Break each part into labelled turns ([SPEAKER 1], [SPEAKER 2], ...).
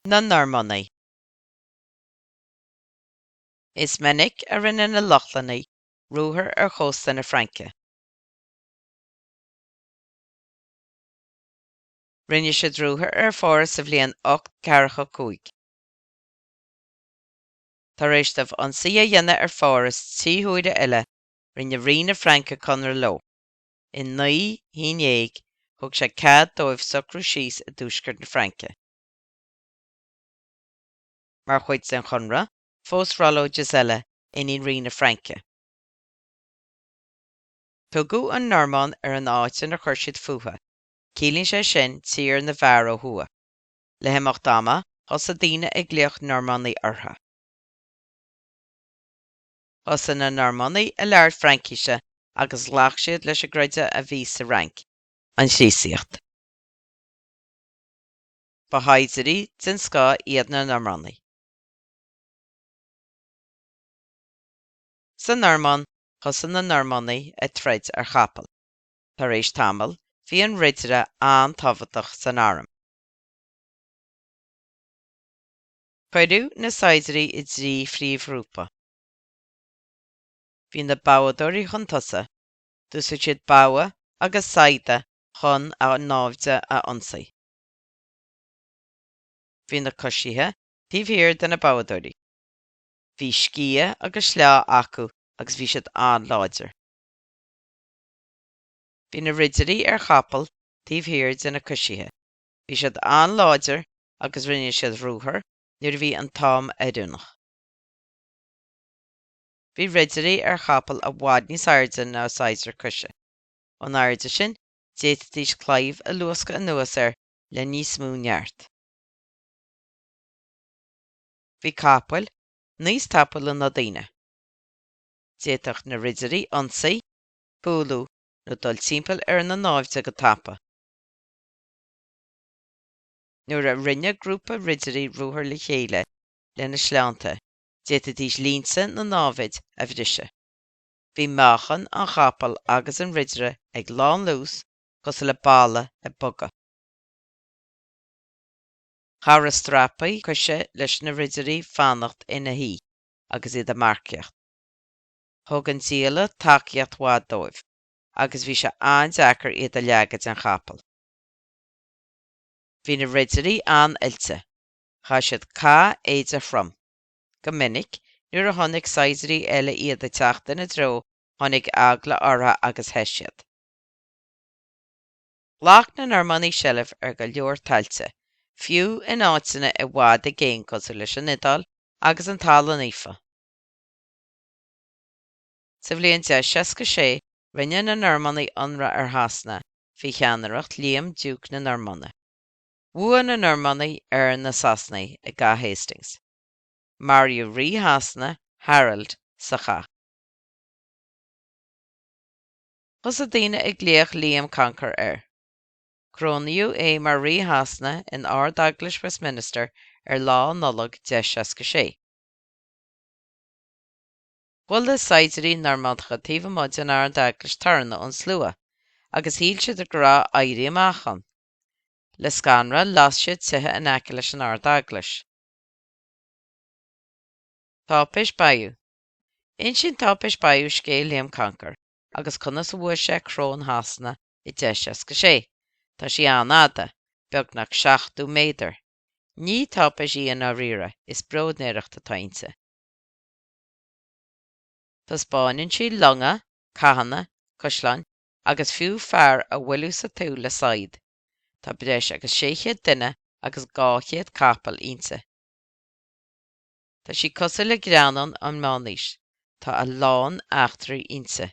[SPEAKER 1] na Normannaigh. Is minic a rinne na Lochlannaigh ruathar ar chósta na Fraince. Rinne siad ruathar ar Pháras sa bhliain 845. Tar éis dóibh ionsaí a dhéanamh ar Pháras trí huaire eile, rinne Rí na Fraince conradh leo. I naoi haon déag thug sé cead dóibh socrú síos i dtuaisceart na Fraince. Mar chuid den chonradh, phós Rollo Gisella, iníon Rí na Fraince. Tugadh an Normainn ar an áit inar chuir siad fúthu, ciallaíonn sé sin tír na bhfear ó thuaidh. Le himeacht ama thosaigh daoine ag glaoch Normannaigh orthu. Thosaigh na Normannaigh ag labhairt Fraincise agus ghlac siad leis an gcreideamh a bhí sa Fhrainc. An Chríostaíocht. Ba shaighdiúirí den scoth iad na Normannaigh. Sa Normainn, thosaigh na Normannaigh ag troid ar chapaill. Tar éis tamaill, bhí an ridire an-tábhachtach san arm. Cuireadh na saighdiuirí i dtrí phríomhghrúpa. Bhí na boghdóirí chun tosaigh, d'úsáid siad bogha agus saigheada chun a náimhde a ionsaí. Bhí na coisithe taobh thiar de na boghdóirí. Bhí sciath agus sleá acu agus bhí siad an-láidir. Bhí na ridirí ar chapaill taobh thiar de na coisithe. Bhí siad an-láidir agus rinne siad ruathar nuair a bhí an t-am oiriúnach. Bhí Ridirí ar chapaill i bhfad níos airde ná saighdiúir coise. Ón airde sin, d'fhéadfaidís claíomh a luascadh anuas air le níos mó neart. Bhí capaill níos tapúla ná daoine. D'fhéadfadh na Ridirí ionsaí, cúlú nó dul timpeall ar na náimhde go tapa. Nuair a rinne grúpa ridirí ruathar le chéile lena sleánta, d'fhéadfaidís línte na námhaid a bhriseadh. Bhí meáchan an chapaill agus an ridire ag lánluas cosúil le balla ag bogadh. Chabhraigh strapaí coise leis na ridirí fanacht ina shuí agus iad ag marcaíocht. Thug an diallait tacaíocht mhaith dóibh. agus bhí sé an-deacair iad a leagadh den chapall. Bhí na Ridirí an-oilte, chaith siad cathéide throm. Go minic nuair a chonaic saighdiúirí eile iad ag teacht ina dtreo tháinig eagla orthu agus theith siad. Ghlac na Normannaigh seilbh ar go leor tailte, fiú in áiteanna i bhfad i gcéin cosúil leis an Iodáil agus an Talamh Naofa. Sa bhliain 1066, rinne na Normannaigh ionradh ar Shasana faoi cheannaireacht Liam, Diúc na Normainne. Bhuaigh na Normannaigh ar na Sasanaigh i gCath Hastings. Maraíodh Rí Shasana, Harold, sa chath. Thosaigh daoine ag glaoch Liam Concar air. Corónaíodh é mar Rí Shasana in Ard-Eaglais Westminster ar Lá Nollag 1066. Chuala na saighdiúirí Normannacha taobh amuigh den Ard-Eaglais torann ón slua agus shíl siad go raibh éirí amach ann. Le scanradh las siad tithe in aice leis an Ard-Eaglais. Táipéis Bayeux. Insíonn Táipéis Bayeux scéal Liam Concar agus conas a bhuaigh sé coróin Shasana i 1066. Tá sí an-fhada, beagnach 70 méadar. Ní táipéis í i ndáiríre, is bróidnéireacht atá inti. Taispeánann sí longa, cathanna, caisleáin agus fiú fear á bhualadh sa tsúil le saighead. Tá breis agus 600 duine agus 200 capall inti. Tá sí cosúil le greannán ón Meánaois, tá a lán eachtraí inti.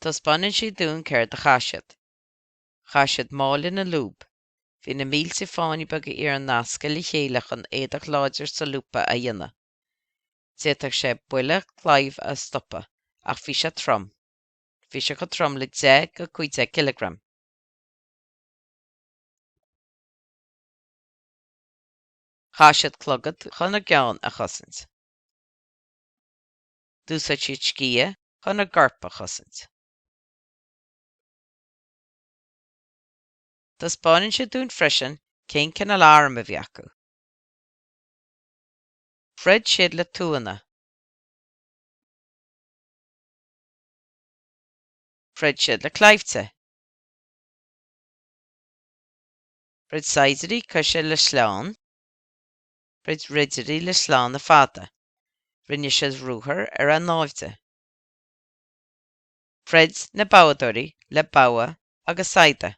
[SPEAKER 1] Taispeánann sí dúinn céard a chaith siad. Chaith siad máille na lúb. Bhí na mílte fáinne beaga iarainn nasctha le chéile chun éadach láidir solúbtha a dhéanamh. D'fhéadfadh sé buille claímh a stopadh, ach bhí sé trom. Bhí sé chomh trom le 10 go 15 cileagram. Chaith siad clogad chun a gceann a chosaint. D'úsáid siad sciath chun a gcoirp a chosaint. Taispeánann sí dúinn freisin cén cineál arm a bhí acu. Throid siad le tuanna. Throid siad le claimhte. Throid saighdiúirí coise le sleánna. Throid ridirí le sleánna fada. Rinne siad ruathar ar a náimhde. Throid na boghdóirí le bogha agus saigheada.